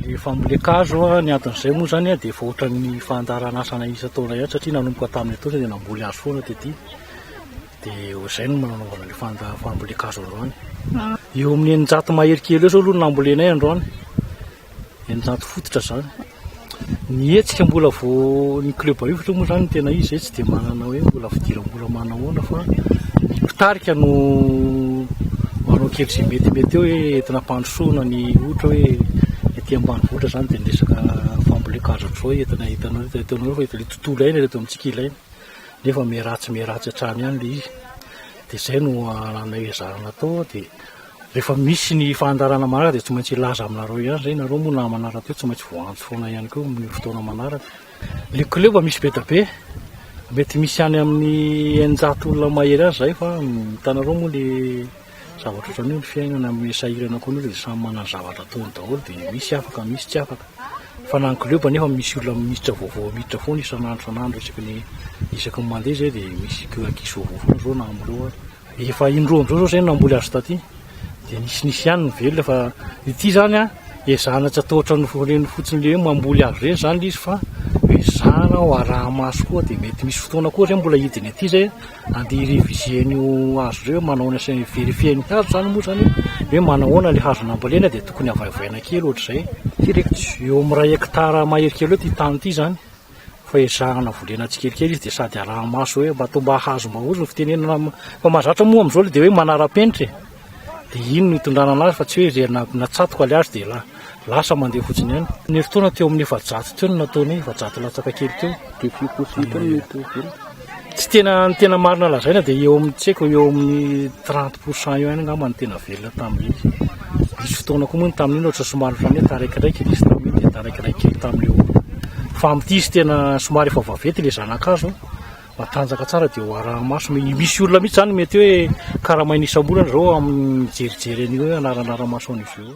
Rehefa mileakazo ny adin'izay moa izany dia efa ohatran'ny fandaharanasana isan-taona ihany satria nanomboka tamin'ny atoandro dia namboly hazo foana tetỳ. Dia izay no nanaovana ilay fanda- fambolean-kazo androany. Eo amin'ny eninjato mahery kely eo izao aloha no nambolenay androany, eninjato fototra izany. Ny hetsika mbola vao ny club Ifotry moa izany tena izy izay tsy dia manana hoe mbola fidiram-bola manahoana fa ny mpitarika no manao kely izay metimety eo hoe entina hampandrosoana ny ohatra hoe ety ambanivohitra izany dia ny resaka fambolen kazo hatrizao entina hitanao hoe ataonareo fa efa ilay tontolo iainana eto amintsika ilaina nefa miharatsy miharatsy hatrany ihany ilay izy dia izay no anananay ezahana atao dia Rehefa misy ny fandaharana manaraka dia tsy maintsy hilaza aminareo ihany izay nareo moa namana rahateo tsy maintsy voantso foana ihany koa amin'ny fotoana manaraka le kleba misy be da be mety misy any amin'ny eninjato olona mahery azy izay fa hitanareo moa le zavatra ohatran'io ny fiainana amin'ny sahirana koa an'io dia samy manana zavatra ataony daholo dia misy afaka misy tsy afaka fa na ny kleba nefa misy olona miditra vaovao miditra foana isan'andro isan'andro isaky ny isaky ny mandeha izay dia misy ankizy vaovao foana izao na amin'ireo ary Efa indroa indroa zao zay no namboly azy taty de nisy nisy ihany ny velona fa ity zany a ezahana tsy atao ohatran'ny reny fotsiny le hoe mamboly azy reny zany le izy fa ezahana ho araha-maso koa de mety misy fotoana koa zay mbola hidiny aty zay ande hi-reviser an'io hazo reo manao ahoana sy hi-verifier ny hazo zany moa zany hoe manao ahoana le hazo nambolena de tokony havaivay na kely ohatr'izay. Ity reko ity eo amin'ny iray hectare mahery kely eo ity tany ity zany fa ezahana vondrena tsikelikely izy dia sady araha-maso hoe mba toa mba hahazo mba ozy ny fitenenana am- fa mahazatra moa amin'izao le dia hoe manara-penitra e dia iny no itondrana anazy fa tsy hoe izay na- natsatoka le azy dia la- lasa mandeha fotsiny ihany ny herintaona teo amin'ny efajato teo no nataony efajato latsaka kely teo Défi possible ny mety ho velona. Tsy tena ny tena marina lazaina dia eo amin'ny tsy haiko eo amin'ny 30 pour cent eo ihany angamba ny tena velona tamin'iny. Nisy fotoana koa moa ny tamin'iny ohatra somary ohatran'ny hoe taraikaraiky nisy tamin'iny dia taraikaraiky kely tamin'io. Fa amin'ity izy tena somary efa vaventy ilay zanakazo, matanjaka tsara dia ho arahi-maso. Mety misy olona mihitsy izany mety hoe karamaina isam-bolana izao amin'ny mijerijery an'io hoe hanaranaran'ny maso an'izy io.